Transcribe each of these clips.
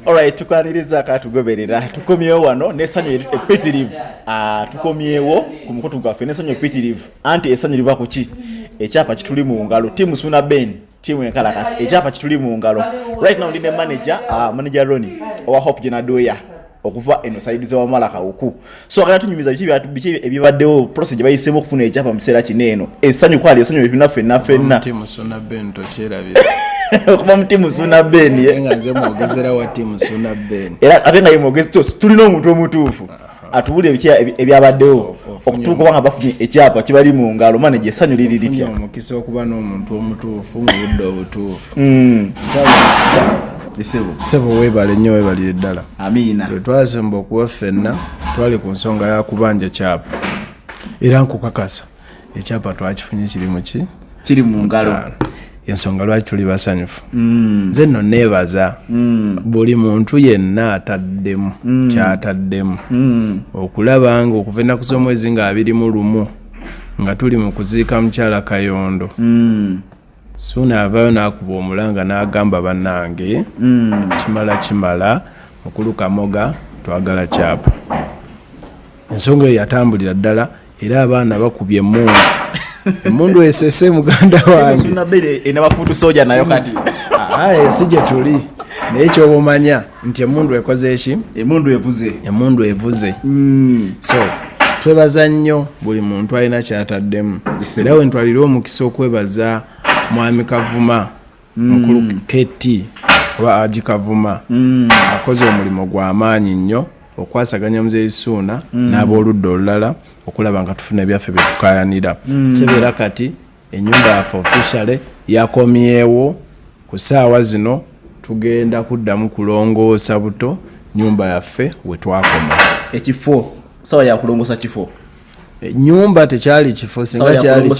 Alright, tukwaniriza katugoberera tukomyewo wano n'essanyu epitirivu ah, tukomyewo ku mukutu gwaffe n'essanyu epitirivu anti essanyu liva ku ki ekyapa kituli mu ngalo tiimu suuna ben tiimu enkalakasi ekyapa kituli mu ngalo right now ndi ne manager ah, manager roni owa hope jenadoya okuva eno saidi za wamala kawuku so agala tunyumiza biki byatu biki ebibaddewo process gye bayisemu okufuna ekyapa mu kiseera kino eno ensanyu kwali ensanyu ebina fenna fenna timu suna ben to chera bi okuba mu timu suna ben ye nga nze mwogezera wa timu suna ben era ate naye mwogezi to tulina omuntu omutuufu atubuli ebiki ebyabaddewo oh, oh, okutuuka obanga bafunye ekyapa kibali mu ngalo mane gye esanyu liri litya omukisa okuba n'omuntu omutuufu mu budde obutuufu mm. sebo webale nyo webalire ddala lwetwazimba okuba ffenna twali ku nsonga ya kubanja kyapa era nkukakasa ekyapa twakifunye kiri muki kiri mu ngalo ensonga lwaki tuli basanyufu mm. nze nno neebaza mm. buli muntu yenna ataddemu mm. kyataddemu okulaba nga okuva ennaku z'omwezi nga abirimu lumu nga tuli mu kuziika mukyala kayondo suuna avaayo n'akuba omulanga n'agamba bannange hmm. kimala kimala mukulu kamoga twagala kyapa ensonga eyo yatambulira ddala era abaana bakubye emundu emundu esese muganda wange ah, ah, eh, si gye tuli naye kyobumanya nti emundu ekoze eki emundu evuze emundu evuze mm. so twebaza nnyo buli muntu alina kyataddemu era wentwalire omukisa okwebaza mwami kavuma mm. mukulu mm. kt oba aji kavuma mm. akoze omulimu gwamaanyi nnyo okwasaganya muzeyi suuna mm. n'abooludda olulala okulaba nga tufuna ebyaffe byetukayanira mm. sebeera kati enyumba yaffe officially yakomyewo ku saawa zino tugenda kuddamu kulongoosa buto nyumba yaffe wetwakoma ekifo sawa yakulongosa kifo e, nyumba tekyali kifo singa kyali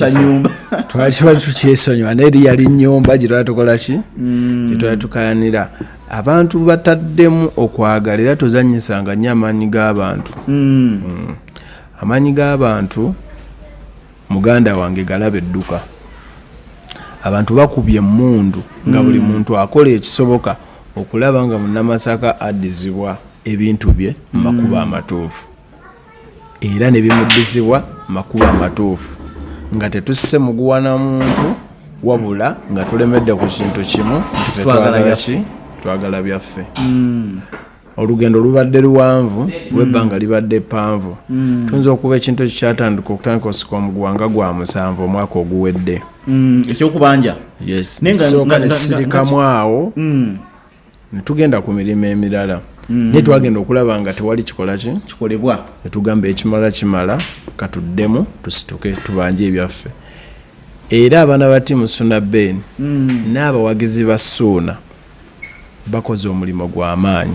twaliba tukyesonyiwa naye eri yali nyumba gyetwali tukolaki mm. gyetwali tukayanira abantu bataddemu okwagala era tozanyisanga nnyo amaanyi g'abantu mm. Mm. amaanyi g'abantu muganda wange galabe dduka abantu bakubye emundu nga hmm. buli muntu akola ekisoboka okulaba nga munamasaka addizibwa ebintu bye mu makubo hmm. amatuufu era ne bimuddizibwa makubo amatuufu nga tetusse muguwana muntu wabula nga tulemedde ku kintu kimu nti fetwagalaki twagala byaffe hmm. olugendo lubadde luwanvu mm. lwebbanga libadde ppanvu mm. tuyinza okuba ekintu ekyo kyatandika okutandika osika omugwanga gwa musanvu omwaka oguwedde mm, ekyokubanja yesooka nesirikamu awo netugenda ku mirimu emirala naye twagenda okulaba nga tewali kikolaki kikolebwa netugamba ekimala kimala katuddemu tusituke tubanje ebyaffe era abaana ba tiimu suuna ben n'abawagizi ba suuna Bakoze omulimu gwa maanyi.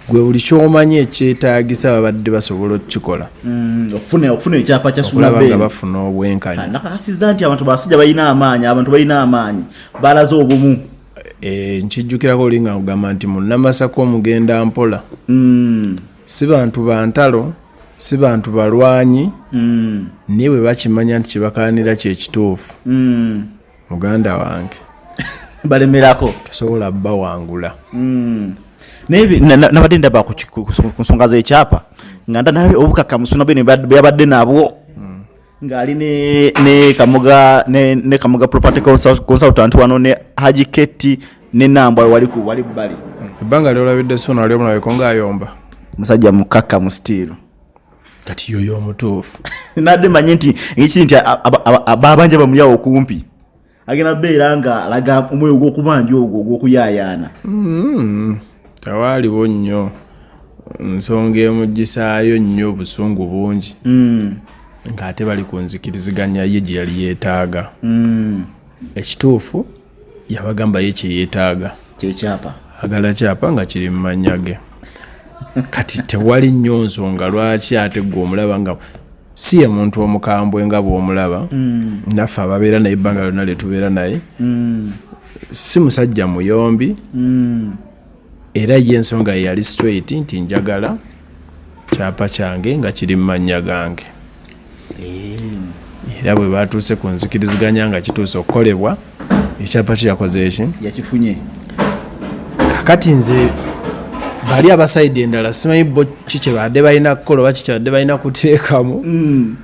Gwe buli kyomanyi ekyetaagisa babadde basobola okukikola mm, okufuna ekyapa kya sulaba nga bafuna obwenkanya ah, nakakasiza nti abantu basajja balina amaanyi abantu balina amaanyi balaze obumu eh, nkijjukirako oli nga ogamba nti munamasaka omugenda mpola mm. si bantu bantalo si bantu balwanyi mm. naye bwe bakimanya nti kyebakanira kyekituufu muganda wange balemerako tosobola bawangula hmm. nabadde ndaba ku nsonga zekyapa nga ndanalabe obukakamusuna bwe byabadde nabwo hmm. ngaali ne kamuga property consultant wano ne haji keti ne nambwa wali ku wali bbali ebbanga lyolabidde suna wali omulabeko ngaayomba musajja mukakamu sitiiru kati yoyo omutuufu nadde manye nti ngekiri nti babanja bamuyawo okumpi agenda beera nga alaga omwoyo gwokubanja ogwo ogwokuyayaana hmm, tewaaliwo nnyo nsonga emugisaayo nnyo obusungu bungi hmm. ng'ate bali ku nzikiriziganya ye gye yali yeetaaga hmm. ekituufu yabagamba ye kyeyetaaga kyekyapa agala kyapa nga kiri mu mannya ge kati tewali nnyo nsonga lwaki ate gwe omulaba nga si ye muntu omukambwe nga bwomulaba mm. naffe ababeera naye ebbanga lyonna lyetubeera naye mm. si musajja muyombi mm. era ye ensonga ye yali straight nti njagala kyapa kyange nga kiri mu mannya gange eh. era bwe batuuse ku nzikiriziganya nga kituuse okukolebwa ekyapa kyo yakoze eki yakifunye kakati nze bali abasaidi endala simanyi bo ki kyebadde balina kukola oba kikyabadde balina kuteekamu mm.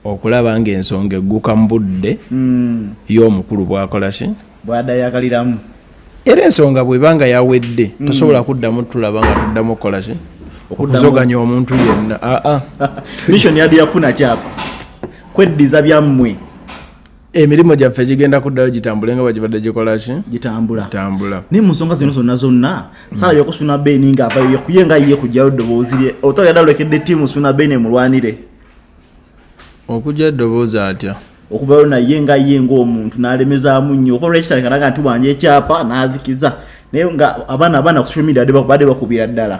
okulaba nga ensonga egguka mu budde mm. y'omukulu bwakola ki bwadayagaliramu era ensonga bwebanga yawedde mm. tosobola kuddamu tulaba nga tuddamu okukola ki okuzoganya omuntu yenna aa ah, ah. mission yadi yafuna kyapa kweddiza byammwe emirimu gyaffe gigenda kuddayo gitambule nga bagibadde gikolaki gitambula gitambula naye mu nsonga zino zonna zonna mm. sala yokusuna beni nga avayo yekuye nga yiye kujjayo ddoboozi lye otoyadalokedde tiimu suna beni emulwanire okugya eddoboozi atya okuvayo naye nga ye ngaomuntu nalemezaamu nnyo okola ekitandika naga nti wanja ekyapa nazikiza naye nga abaana abaana ku social media bade bakubira ddala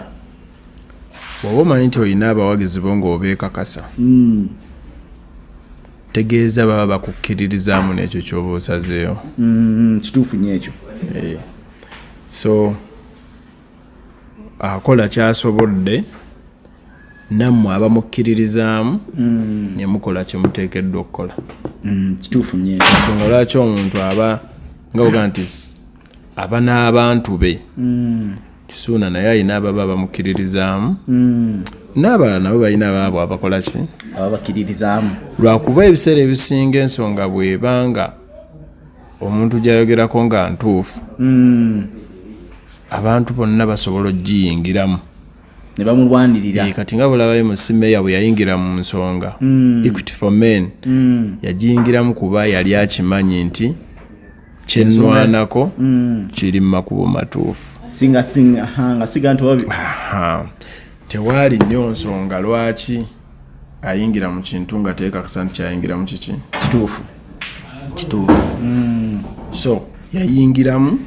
oba omanyi nti olina abawagizi bo ngaobeekakasa hmm. tegeeza baba bakukkiririzaamu n'ekyo kyoba osazeeyo hmm, kituufu nyo ekyo eh. so akola kyasobodde nammwe abamukkiririzaamu mm. ne mukola kye muteekeddwa okukola mm, kituufu nyo ensonga lwaki omuntu aba nga oga nti aba n'abantu be mm. kisuuna naye alina ababa bamukkiririzaamu n'abalala nabo balina baabo abakola ki ababakkiririzaamu lwakuba ebiseera ebisinga ensonga bwebanga omuntu gyayogerako nga ntuufu abantu bonna basobola okugiyingiramu ne bamulwanirira eh, kati nga bulabayo musimeeya bwe yayingira mu nsonga hmm. equity for men hmm. yagiyingiramu kuba yali akimanyi nti kyenwanako hmm. kiri mu makubo matuufu singa singa nga siga nti wabi tewaali nnyo nsonga lwaki ayingira mu kintu nga teekakasa nti kyayingiramu kiki kituufu kituufu mm. so yayingiramu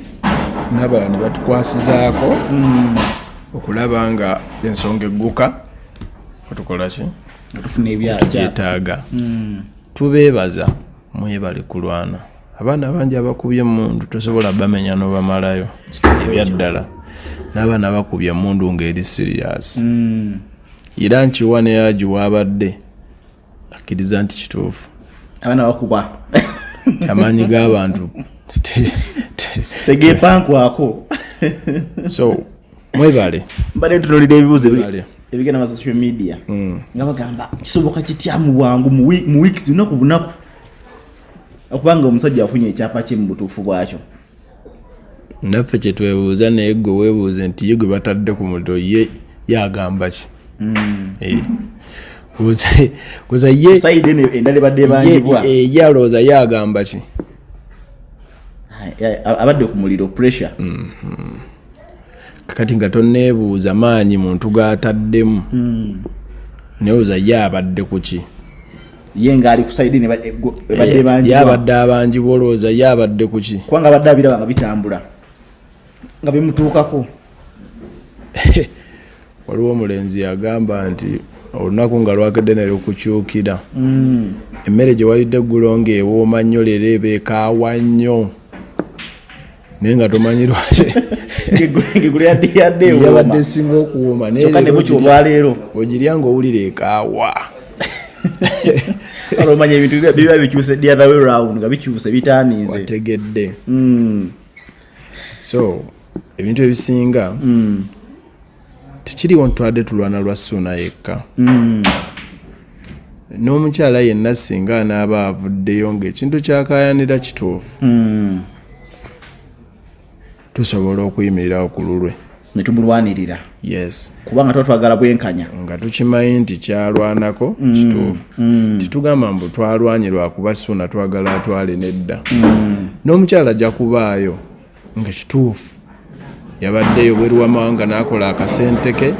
nabala ne batukwasizaako mm. okulaba nga ensonga egguka otukolaki tugyetaaga mm. tubeebaza mwebale kulwana abaana bangi abakubye emundu tosobola bamenya nobamalayo ebyaddala n'abaana bakubye emundu ngaeri sirias hmm. era nkiwa neyaji wabadde akkiriza nti kituufu abaana bakuba amaanyi g'abantu tegepankwako so mwebale mbadde ntunulira ebibuuzo ebigenda ma social media hmm. nga bagamba kisoboka kitya mu bwangu mu weeks lunaku bunaku okubanga omusajja afunye ekyapa kye mu butuufu bwakyo naffe kyetwebuuza naye gwe webuuze nti ye gwe batadde ku muto ye yagamba ki mm. eh. kuza ye endala ebadde ebangibwa eh, ye alowooza ye agamba ki abadde ku muliro pressure mm-hmm. kati nga toneebuuza maanyi muntu gataddemu mm. newoza ye abadde kuki ye ngaali kusaidi ebadde eh, bangi yabadde abangi bolowooza ye abadde kuki kubanga abadde abiraba nga bitambula nga bimutuukako waliwo omulenzi yagamba nti olunaku nga lwakedde ne lukukyukira mm. emmere gye walidde eggulo ng'ewooma nnyo leero ebeekaawa nnyo naye nga tomanyi lwakiyabadde esinga okuwoma nayeleero ogirya nga owulira ekaawa olomanya ebintu biba bikyuse the other way round nga bikyuse bitaniize wategedde hmm. so ebintu ebisinga mm. tekiriwo ntwadde tulwana lwa suuna yekka mm. n'omukyala yenna singa anaaba avuddeyo ngaekintu kyakayanira kituufu mm. tusobola okuyimirira ku lulwe netubulwanirira yes kubanga tuba twagala bwenkanya nga tukimanyi nti kyalwanako mm, kituufu mm. titugamba mbu twalwanye lwakuba suuna twagala atwale nedda mm. n'omukyala ajja kubaayo nga kituufu yabaddeyo bweru wamawanga n'akola akasente ke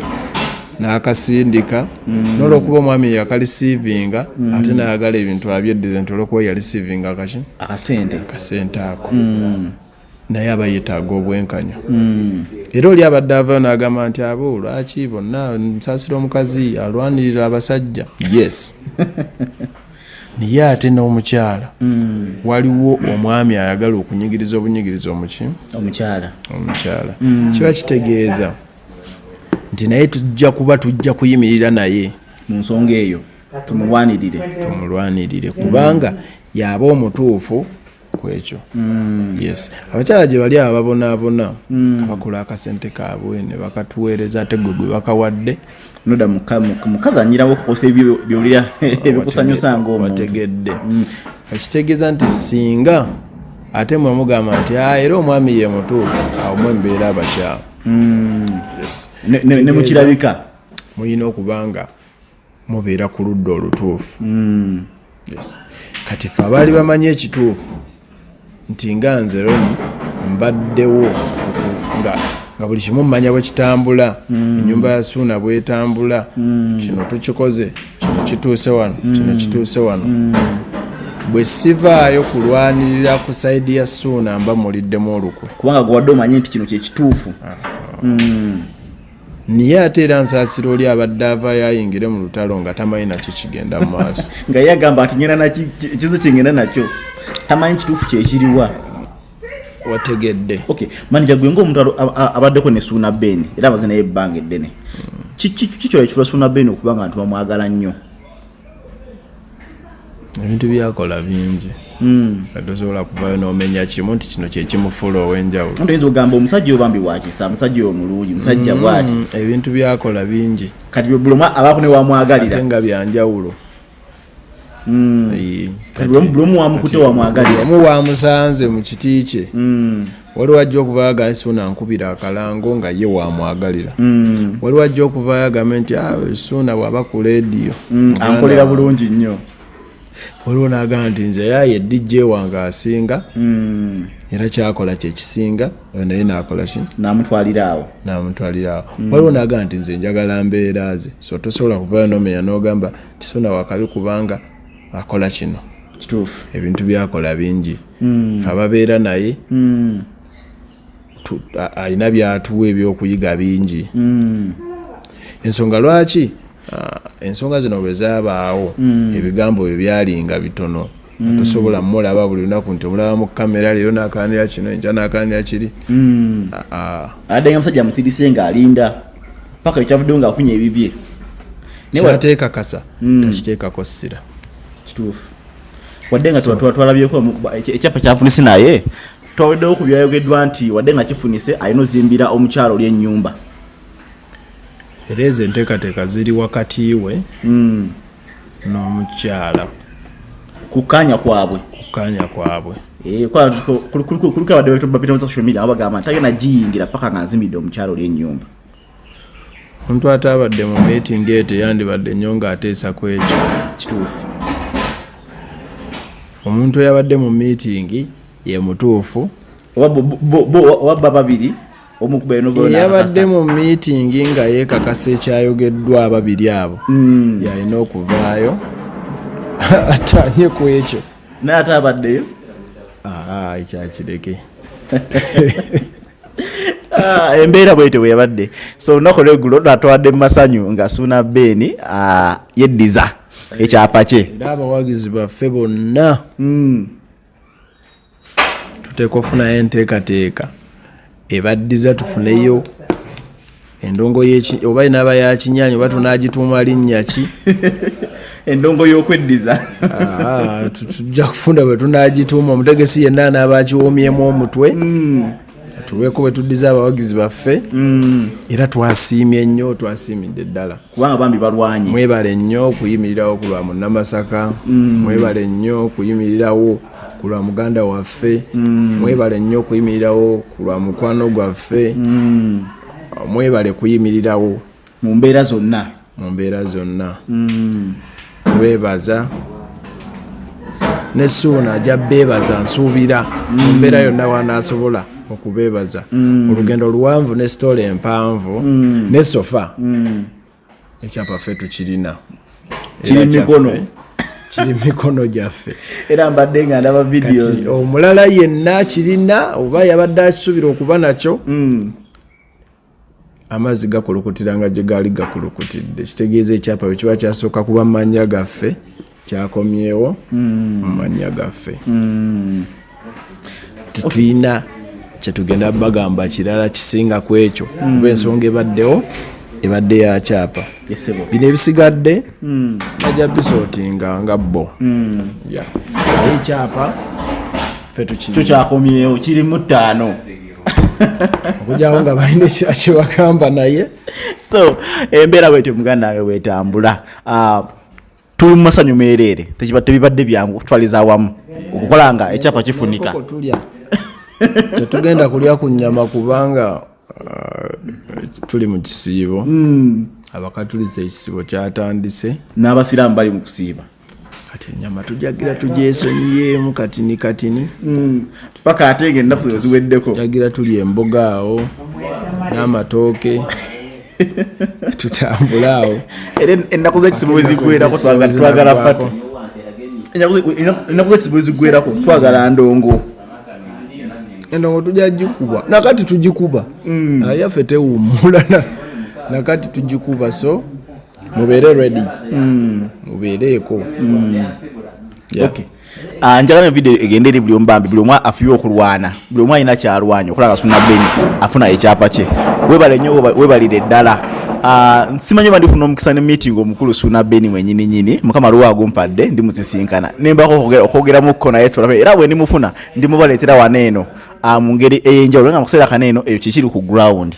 n'akasindika mm. n'olwokuba omwami yakalisiivinga mm. ate nayagala ebintu abyeddize nti olwokuba yalisiivinga kaki akasente akasente ako mm. naye aba yetaaga obwenkanya era oli abadde avayo n'agamba nti abo lwaki bonna nsaasira omukazi alwanirira abasajja yes naye ate n'omukyala mm. waliwo omwami ayagala okunyigiriza obunyigiriza omuki omukyala omukyala mm. kiba kitegeeza nti naye tujja kuba tujja kuyimirira naye mu nsonga eyo tumulwanirire tumulwanirire kubanga yaba omutuufu kwekyo mm. yes abakyala gye bali ababonaabona mm. kabakola akasente kaabwe ne bakatuweereza ate gwe gwe bakawadde noda mukazi anyirawo okukosa ebyo byolira ebikusanyusa ngaomutegedde mm. ekitegeeza nti singa ate mwe mugamba nti ah, era omwami ye mutuufu awo mwe mbeera abakyala mm. ne mukirabika mulina okubanga mubeera ku ludda olutuufu hmm. kati fe abaali bamanyi ekituufu nti nga nze roni mbaddewo nga nga buli kimu mumanya bwe kitambula hmm. ennyumba ya suuna bwetambula hmm. kino tukikoze kino kituuse wano kino kituuse wano bwe sivaayo kulwanirira ku saidi ya suuna mba muliddemu olukwe kubanga gwewadde omanyi nti kino kyekituufu ah. naye ate era nsaasira oli abadde avayo ayingire mu lutalo nga tamanyi nakyo kigenda mu maaso nga ye agamba nti ngenda nakizi kingenda nakyo tamanyi kituufu kyekiriwa wategedde okay manager gwe ng'omuntu abaddeko ne suuna ben era abaze naye ebbanga eddene kiki kiki kyola ekifula suuna ben okuba nga nti bamwagala nnyo ebintu byakola bingi tosobola hmm. kuvayo nomenya kimu nti kino kyekimufuula owenjawulo oyinza ogamba omusajja obambi wakisa omusajja omulungi musajja hmm, bwati ebintu byakola bingi kati buloma abaako newamwagalira nga byanjawulo hmm. buloma wamukute wamwagalira omu wamusanze mu kiti kye waliwo ajja okuvaayo agambe suuna ankubira akalango nga ye wamwagalira mm. waliwo ajja okuvaayo agambe nti ah, suuna bwaba ku lediyo mm, ankolera bulungi nnyo waliwo nagamba nti nze yaye dj wange asinga mm. era kyakola kyekisinga oyo naye nakolaki namutwaliraawo namutwaliraawo waliwo nagamba nti nze njagala mbeera ze so tosobola kuvaayo nomenya nogamba nti suuna wakabi kubanga akola kino kituufu ebintu byakola bingi mm. fe ababeera naye mm. alina byatuwa ebyokuyiga bingi mm. ensonga lwaki uh, ensonga zino bwe zabaawo mm. ebigambo byo byalinga bitono mm. tosobola mulaba buli lunaku nti omulaba mu kamera leero nakanira kino enja nakanira kiri mm. uh, uh. adde nga musajja musidise nga alinda paka ekyavuddewo nga afunye ebibye kyateekakasa hmm. takiteekako ssira kituufu wadde nga twalabyeko ekyapa kyafunisi naye twaweddewo ku byayogeddwa nti wadde nga kifunise alina ozimbira omukyalo oli ennyumba era ezo enteekateeka ziri wakati we hmm. n'omukyala kukanya kwabwe kukanya kwabwe eh, kuliko abadde babita mu social media abagamba nti agenda giyingira paka nga nzimidde omukyalo oli enyumba omuntu ataabadde mu meetingi eyo teyandibadde nnyo ng'ateesa ku ekyo kituufu omuntu eyabadde mu meetingi ye mutuufu oba baba babiri eyabadde mu miitingi nga yeekakasa ekyayogeddwa ababiri abo hmm. yalina okuvaayo atanye ku ekyo naye ate abaddeyo ekyakireke ah, embeera bwetyo bweyabadde so olunaku lwegulo natwadde mu masanyu nga suuna beeni ah, yeddiza ekyapa kye era abawagizi baffe bonna hmm. tuteeka ofunayo enteekateeka ebaddiza tufuneyo endongo oba inaaba yakinyanya oba tunagituuma linnya ki endongo y'okweddiza ah, tujja kufunda bwe tunagituuma omutegesi yenna anaaba akiwomyemu omutwe hmm. tubeeko wetuddiza abawagizi baffe mm. era twasiimye nnyo twasiimidde ddala kubanga bambi balwanye mwebale nnyo okuyimirirawo ku lwa munnamasaka mm. mwebale nnyo okuyimirirawo ku lwa muganda waffe mm. mwebale nnyo okuyimirirawo ku lwa mukwano gwaffe mwebale kuyimirirawo mu mbeera zonna mu mbeera zonna mm. beebaza ne suuna ajja beebaza nsuubira mu mm. mbeera yonna wanaasobola okubeebaza mm. olugendo luwanvu ne sitoola empanvu mm. ne sofa mm. ekyapa ffe tukirina kiri mikono kiri mikono gyaffe era mbadde nga ndaba videos omulala yenna kirina oba yabadde akisuubira okuba nakyo mm. amazzi gakulukutira nga gye gaali gakulukutidde kitegeeza ekyapa bwe kiba kyasooka kuba mu mannya gaffe kyakomyewo hmm. mu mannya gaffe hmm. tetulina kyetugenda bagamba kirala kisinga ku ekyo hmm. kuba ensonga ebaddewo ebadde ya kyapa bino ebisigadde bajja bisotinga nga bo ekyapa fe tukyakomyewo kirimu ttaano okujyawo nga balina kyebagamba naye so embeera bwetyo muganda wange bwetambula ah, tuli mu masanyu meereere tebibadde byangu okutwaliza awamu okukola nga ekyapa kifunika tetugenda kulya ku nyama kubanga ah, tuli mu kisiibo hmm. abakatuliza ekisibo kyatandise n'abasiraamu bali mu kusiiba kati enyama tujagira tujesonyiyeemu katini katini mm. paka ate nga ennaku zino ziweddeko tujagira tuli emboga awo n'amatooke tutambule awo era ennaku zekisimu weziggwerako twagala pati ennaku zekisimu weziggwerako twagala ndongo endongo tujja gikuba nakati tugikuba mm. yaffe tewummula nakati tugikuba so mubeere ready mm. mubeereeko mm. yeah. okay. Uh, njagala video egende eri buli omubambi buli omu afuye okulwana buli omu alina kyalwanya okulaba suna beni afuna ekyapa kye webale nyo webalire ddala Ah, nsimanyi oba ndifuna omukisa ne meeting omukulu suuna beni mwenyini nyini mukama luwa agumpadde ndi musisinkana nembako okwogeramuko naye tulabe era bwe ndimufuna ndimubaleetera wano eno ah, mu ngeri ey'enjawulo nga mu kaseera kano eno eyo kikiri ku ground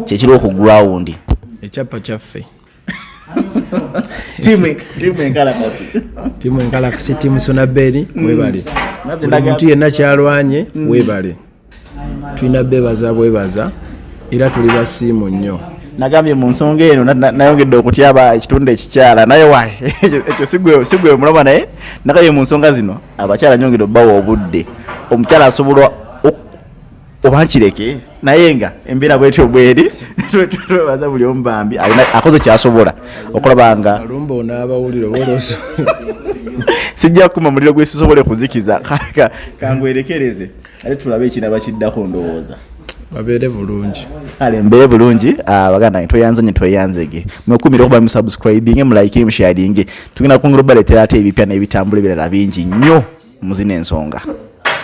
kyekiriwo ku ground ekyapa kyaffe timu enkalakasi timu sonaberi mm. webale omuntu yenna kyalwanye mm. webale tulina bebaza bwebaza era tuli basiimu nnyo nagambye mu nsonga eno nayongedde okutyaba ekitundu ekikyala naye wae ekyo sigwe omulaba naye nagambye mu nsonga zino abakyala nyongedde obubawa obudde omukyala asobola oba nkireke naye nga embeera bwetyo bweri twebaza buli omu bambi akoze kyasobola okulaba nga lumba onaabawulire oboloso sijja kukuma muliro gwe sisobole kuzikiza kaka kangwerekereze ate tulabe ekiraba kiddako ndowooza babeere bulungi kale mbeere bulungi ah, baganda nge tweyanze nye tweyanzege mwekumire okuba musubscribinge mulayikire musharinge tugenda kungula obaletera ate ebipya n'ebitambula ebirala bingi nnyo muzina ensonga